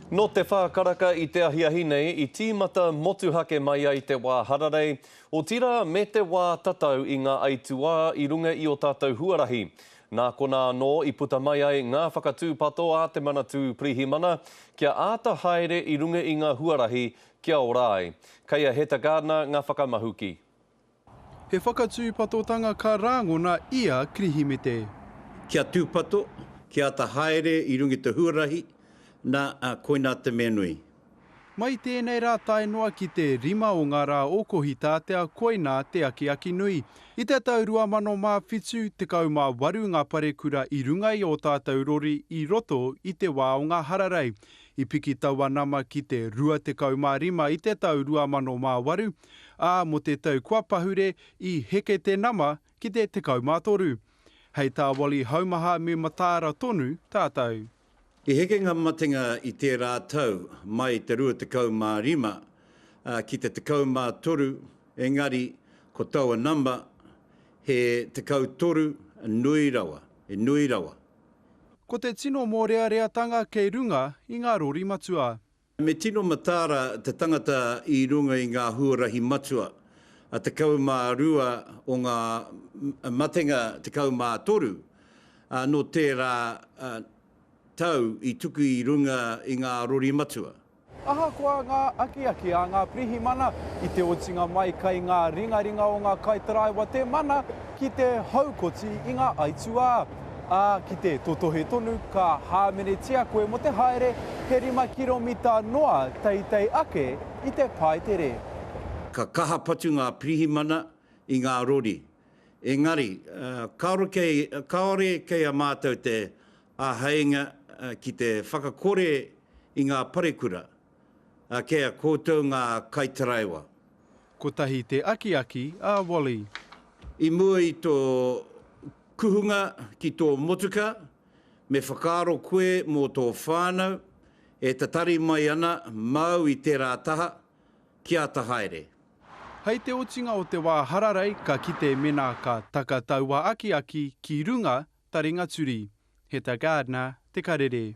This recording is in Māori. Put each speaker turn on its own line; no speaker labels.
Nō te whā karaka i te ahiahi nei i tīmata motuhake mai ai te wā hararei, otirā me te wā tatau i ngā aituā i runga i ō tātou huarahi. Nā konā anō i puta mai ai ngā whakatūpato a te Manatū Pirihimana kia āta haere i runga i ngā huarahi kia ora ai. Kei a Heta Gardner ngā whakamahuki. He
whakatūpatotanga ka rāngona i a Kirihimete. Kia
tūpato, kia ata haere i runga i te huarahi, nā, koinā te mea nui. Mai
tēnei rā tae noa ki te rima o ngā rā o Kohitātea koinā te akiaki nui. I te tau 2007, 18 ngā parekura i runga i ō tātou rori i roto i te wā o ngā hararei. I piki taua nama ki te 25 i te tau 2008, ā, mō te tau kua pahure i heke te nama ki te 13. Hei tā Wally Haumaha me mataara tonu tātou. I heke ngā
matenga i tērā tau mai i te 25 ki te 13 engari ko taua nama he 13 nui rawa, he nui rawa. Ko te
tino mōreareatanga kei runga i ngā rori matua. Me tino
mataara te tangata i runga i ngā huarahi matua, a 12 o ngā matenga 13, ā, nō tērā tau i tuku i runga i ngā rori matua. Ahakoa
ngā akiaki a ngā pirihimana i te otinga mai kai ngā ringaringa o ngā kaitaraiwa te mana ki te haukoti i ngā aituā. Ā, ki te totohe tonu, ka hāmenetia koe mō te haere he rima kiromita noa teitei ake i te Paetere. Ka
kaha patu ngā pirihimana i ngā rori. Engari, kāore kei, kāore kei a mātou te āheinga ki te whakakore i ngā parekura. A kē a koutou ngā kaitaraiwa. Kotahi
te akiaki a Wally. I mua
i tō kuhunga ki tō motuka, me whakaaro koe mō tō whānau e tatari mai ana māu i tērā taha, ki āta haere. Hei te
otinga o te wā hararei ka kite mena ka taka taua akiaki ki runga taringa turi. He ta Gardner te karere.